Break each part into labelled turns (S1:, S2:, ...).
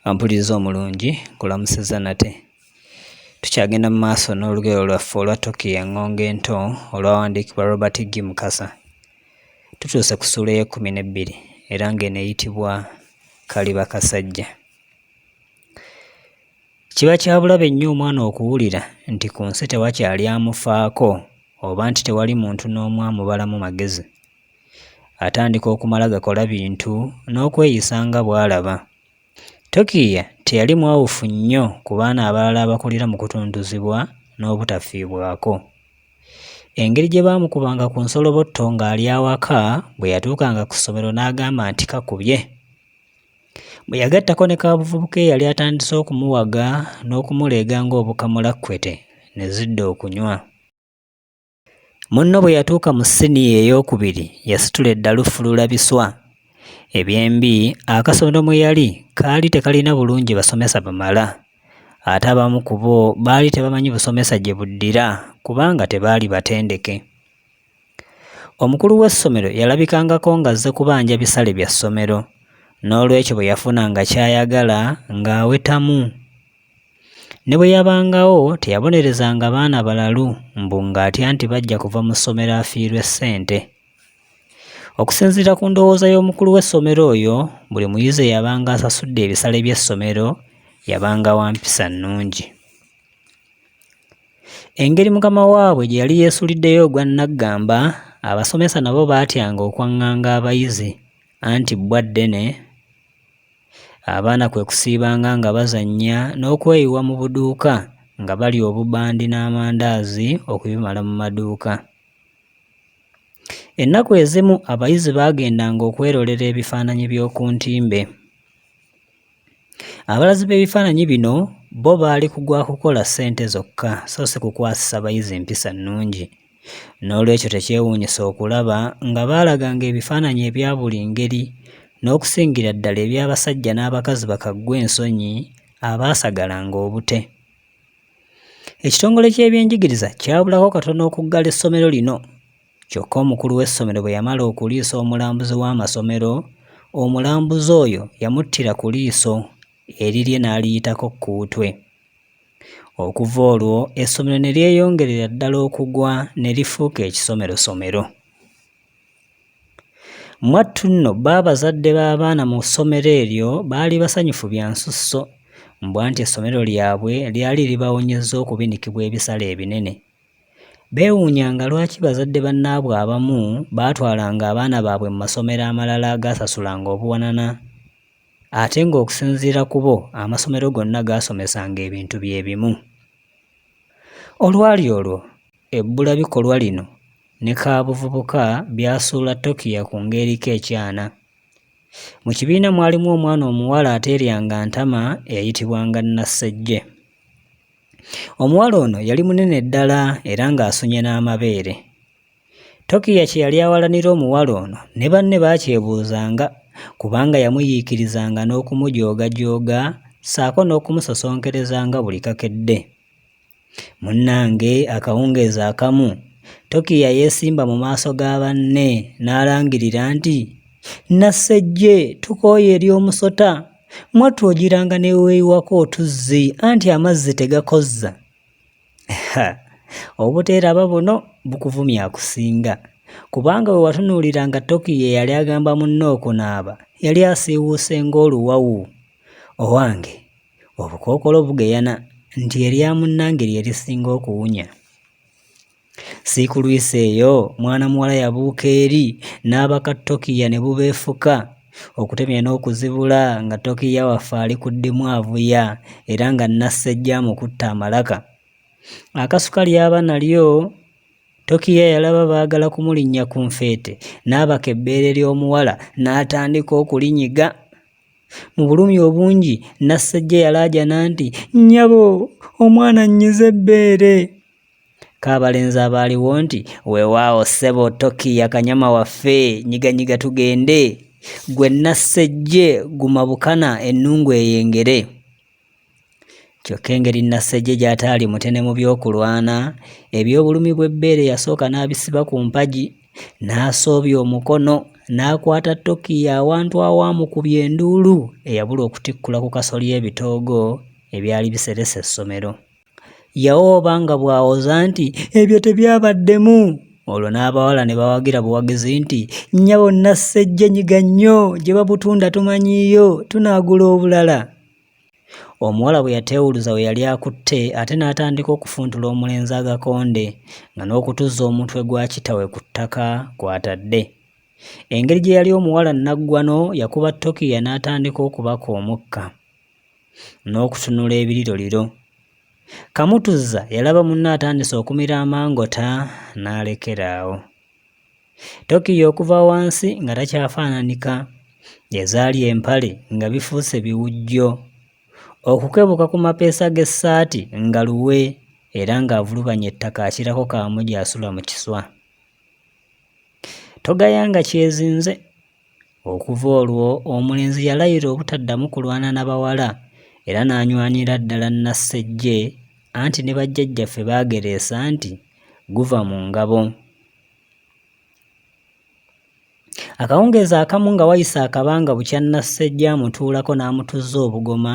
S1: Ampuliriza omulungi nkulamusiza nate. Tukyagenda mu maaso n'olugero lwaffe olwa Toki eng'ongo ento olwawandiikibwa Robert G. Mukasa. Tutuuse ku ssuula ey'ekkumi n'ebbiri era ng'eno eyitibwa Kaliba Kasajja. Kiba kya bulabe nnyo omwana okuwulira nti ku nsi tewakyali amufaako oba nti tewali muntu n'omu amubalamu magezi. Atandika okumala gakola bintu n'okweyisa nga bw'alaba. Tokiiya teyali mwawufu nnyo ku baana abalala abakulira mu kutuntuzibwa n'obutafiibwako. Engeri gye baamukubanga ku nsolobotto ng'ali awaka bwe yatuukanga ku ssomero n'agamba nti kakubye. Bwe yagattako ne kaabuvubuka eyali atandise okumuwaga n'okumuleega ng'obukamulakkete ne zidda okunywa. Munno bwe yatuuka mu siniya ey'okubiri yasitula eddalu fulula biswa. Ebyembi akasondo mwe yali kaali tekalina bulungi basomesa bamala. Ate abamu ku bo baali tebamanyi busomesa gye buddira kubanga tebaali batendeke. Omukulu w'essomero yalabikangako ng'azze kubanja bisale bya ssomero n'olwekyo bwe yafunanga ky'ayagala ng'awetamu. Ne bwe yabangawo teyabonerezanga baana balalu mbu ng'atya nti bajja kuva mu ssomero afiirwe ssente. Okusinziira ku ndowooza y'omukulu w'essomero oyo, buli muyizi eyabanga asasudde ebisale by'essomero yabanga wa mpisa nnungi. Engeri mukama waabwe gye yali yeesuliddeyo ogwa nnaggamba, abasomesa nabo baatyanga okwaŋŋanga abayizi anti bbwa ddene, abaana kwe kusiibanga nga bazannya n'okweyiwa mu buduuka nga balya obubandi n'amandaazi okubimala mu maduuka. Ennaku ezimu abayizi baagendanga okwerolera ebifaananyi by'oku ntimbe. Abalazi b'ebifaananyi bino bo baali ku gwa kukola ssente zokka so si kukwasisa bayizi mpisa nnungi. N'olwekyo tekyewuunyisa okulaba nga baalaganga ebifaananyi ebya buli ngeri n'okusingira ddala eby'abasajja n'abakazi bakaggwa ensonyi abaasagalanga obute. Ekitongole ky'ebyenjigiriza kyabulako katono okuggala essomero lino Kyokka omukulu w'essomero bwe yamala okuliisa omulambuzi w'amasomero, omulambuzi oyo yamuttira ku liiso erirye n'aliyitako kkuutwe. Okuva olwo essomero ne lyeyongerera ddala okugwa ne lifuuka ekisomerosomero. Mwattu nno bbo abazadde b'abaana mu ssomero eryo baali basanyufu bya nsusso, mbwa nti essomero lyabwe lyali libawonyezza okubinikibwa ebisale ebinene. Beewuunyanga lwaki bazadde bannaabwe abamu baatwalanga abaana baabwe mu masomero amalala agaasasulanga obuwanana ate ng'okusinziira ku bo amasomero gonna gaasomesanga ebintu bye bimu. Olwali olwo, ebbula bikolwa lino ne kaabuvubuka byasuula Tokiya ku ng'eriko ekyana. Mu kibiina mwalimu omwana omuwala ateeryanga ntama eyayitibwanga Nassejje. Omuwala ono yali munene ddala era ng'asunye n'amabeere. Tokiya kye yali awalanira omuwala ono ne banne baakyebuuzanga kubanga yamuyiikirizanga n'okumujoogajooga ssaako n'okumusosonkerezanga buli kakedde. Munnange akawungeezi akamu Tokiya yeesimba mu maaso ga banne n'alangirira nti, Nassejje tukooye eri omusota mwattu ogiranga neweyiwako otuzzi anti amazzi tegakozza obuteeraba buno bukuvumya akusinga kubanga we watunuulira nga tokiyo eyali agamba munne okunaaba yali asiiwuuse ng'oluwawu owange obukookolo bugeyana nti erya munnange lye lisinga okuwunya Siikulwisa eyo mwana muwala yabuuka eri n'abaka Tokiya ne bubeefuka okutemya n'okuzibula nga Tokiya waffe ali ku ddimu avuya era nga Nassejja amukutte amalaka. Akasuka lyaba nalyo Tokiya yalaba baagala kumulinnya ku nfeete n'abaka ebbeere ly'omuwala n'atandika okulinyiga. Mu bulumi obungi Nassejja yalaajana nti, Nnyabo omwana nnyize ebbeere! Kabalenzi abaaliwo nti, Weewaawo ssebo Toki yakanyama waffe, nyiganyiga tugende. Gwe Nassejje guma bukana ennungu eyengere. Kyokka engeri Nassejje gy'ataali mutene mu by'okulwana, eby'obulumi bw'ebbeere yasooka n'abisiba ku mpagi, n'asoobya omukono, n'akwata Toki awantu awaamukubya enduulu eyabula okutikkula ku kasolya ebitoogo ebyali biseresa essomero. Yawooba nga bw'awoza nti, Ebyo tebyabaddemu! Olwo n'abawala ne bawagira buwagizi nti, Nnyabo Nassejje nyiga nnyo, gye babutunda tumanyiiyo, tunaagula obulala. Omuwala bwe yateewuluza we yali akutte ate n'atandika okufuntula omulenzi agakonde nga n'okutuzza omutwe gwa kitawe ku ttaka kw'atadde. Engeri gye yali omuwala nnaggwano yakuba Tokiya n'atandika okubaka omukka. n'okutunula ebiriroliro. Kamutuzza yalaba munne atandise okumira amangota n'alekera awo. Tokiyo okuva wansi nga takyafaananika, ezaali empale nga bifuuse biwujjo, okukebuka ku mapeesa g'essaati nga luwe era ng'avulubanya ettaka akirako Kaamuje asula mu kiswa. Togayanga kyezinze Okuva olwo omulenzi yalayira obutaddamu kulwana na bawala era n'anywanira ddala Nassejje anti ne bajjajjaffe baagereesa nti guva mu ngabo. Akawungeezi akamu nga wayise akabanga bukya Nassejja amutuulako n'amutuzza obugoma,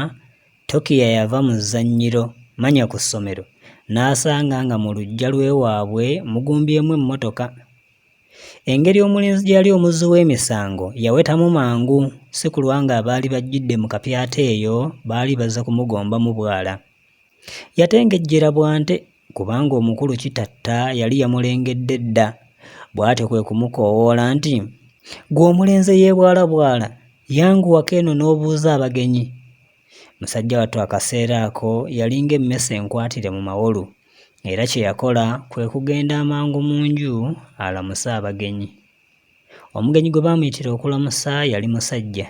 S1: Tokiya yava mu zzannyiro, manya ku ssomero, n'asanga nga mu luggya lw'ewaabwe mugumbyemu emmotoka. Engeri omulenzi gye yali omuzzi w'emisango yawetamu mangu si kulwa ng'abaali bajjidde mu kapyata eyo baali baze kumugombamu bwala. Yatengejjera Bwante kubanga omukulu Kitatta yali yamulengedde dda bw'atyo kwe kumukoowoola nti, Ggwe omulenze yeebwalabwala yanguwako eno n'obuuza abagenyi. Musajja wattu akaseera ako yalinga emmese enkwatire mu mawolu era kye yakola kwe kugenda amangu mu nju alamuse abagenyi. Omugenyi gwe baamuyitira okulamusa yali musajja.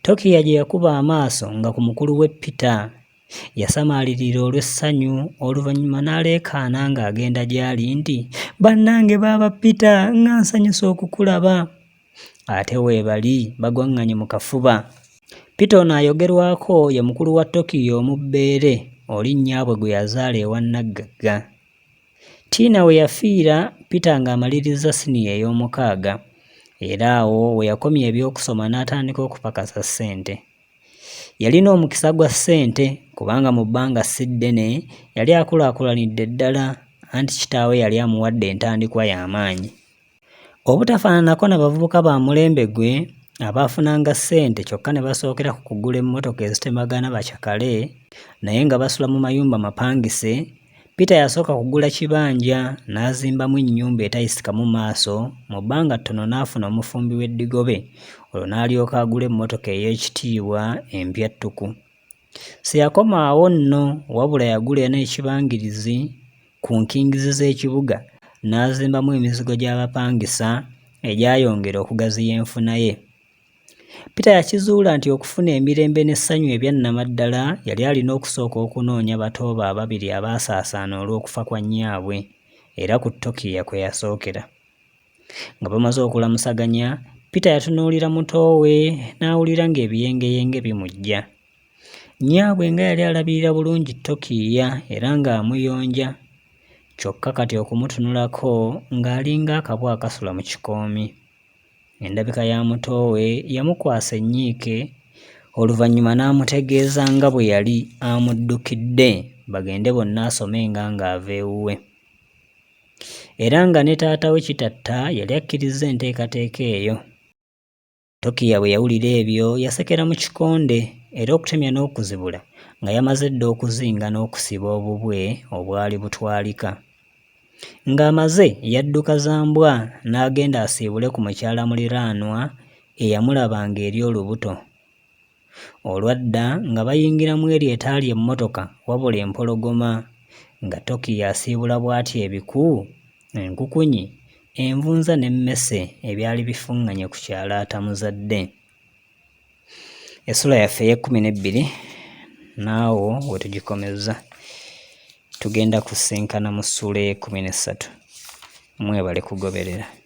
S1: Tokiya gye yakuba amaaso nga ku mukulu we Peter. Yasamaalirira olw'essanyu oluvannyuma n'aleekaana ng'agenda gy'ali nti, Bannange baaba Peter nga nsanyuse okukulaba! ate weebali bagwang'anye mu kafuba. Peter ono ayogerwako ye mukulu wa Tokyo omubbeere oli nnyaabwe gwe yazaala ewa Nnaggagga. Tiina we yafiira Peter ng'amalirizza siniya ey'omukaaga era awo we yakomya eby'okusoma n'atandika okupakasa ssente. Yalina omukisa gwa ssente kubanga mu bbanga si ddene yali akulaakulanidde ddala anti kitaawe yali amuwadde entandikwa y'amaanyi. Obutafaananako na bavubuka ba mulembe gwe abaafunanga ssente kyokka ne basookera ku kugula emmotoka ezitemagana bacakale naye nga basula mu mayumba mapangise, Peter yasooka kugula kibanja n'azimbamu ennyumba etayisikamu maaso mu bbanga ttono n'afuna omufumbi w'eddigobe olwo n'alyoka agula emmotoka ey'ekitiibwa empya ttuku. Siyakoma awo nno wabula yagula eno ekibangirizi ku nkingizi z'ekibuga n'azimbamu emizigo gy'abapangisa egyayongera okugaziya enfuna ye. Peter yakizuula nti okufuna emirembe n'essanyu ebya nnamaddala yali alina okusooka okunoonya bato be ababiri abaasaasaana olw'okufa kwa nnyaabwe era ku Tokiya kwe yasookera. Nga bamaze okulamusaganya, Peter yatunuulira muto we n'awulira ng'ebiyengeyenge bimujja. Nnyaabwe nga yali alabirira bulungi Tokiiya era ng'amuyonja, kyokka kati okumutunulako ng'alinga akabwa akasula mu kikoomi. Endabika ya muto we yamukwasa ennyiike oluvannyuma n'amutegeeza nga bwe yali amuddukidde bagende bonna asomenga ng'ava ewuwe. era nga ne taata we Kitatta yali akkirizza enteekateeka eyo. Tokiya bwe yawulira ebyo yasekera mu kikonde era okutemya n'okuzibula nga yamaze dda okuzinga n'okusiba obubwe obwali butwalika. Ng'amaze yadduka za mbwa n'agenda asiibule ku mukyala muliraanwa eyamulaba ng'eri olubuto. Olwadda nga bayingira mu eryo etaali emmotoka wabula empologoma, nga Tokiyo asiibula bw'atyo ebiku, enkukunyi, envunza n'emmese ebyali bifuŋŋanye ku kyalo atamuzadde. Essula yaffe ey'ekkumi n'ebbiri naawo we tugikomezza. Tugenda kusinkana mu ssuula ey'ekkumi n'essatu. Mwebale kugoberera.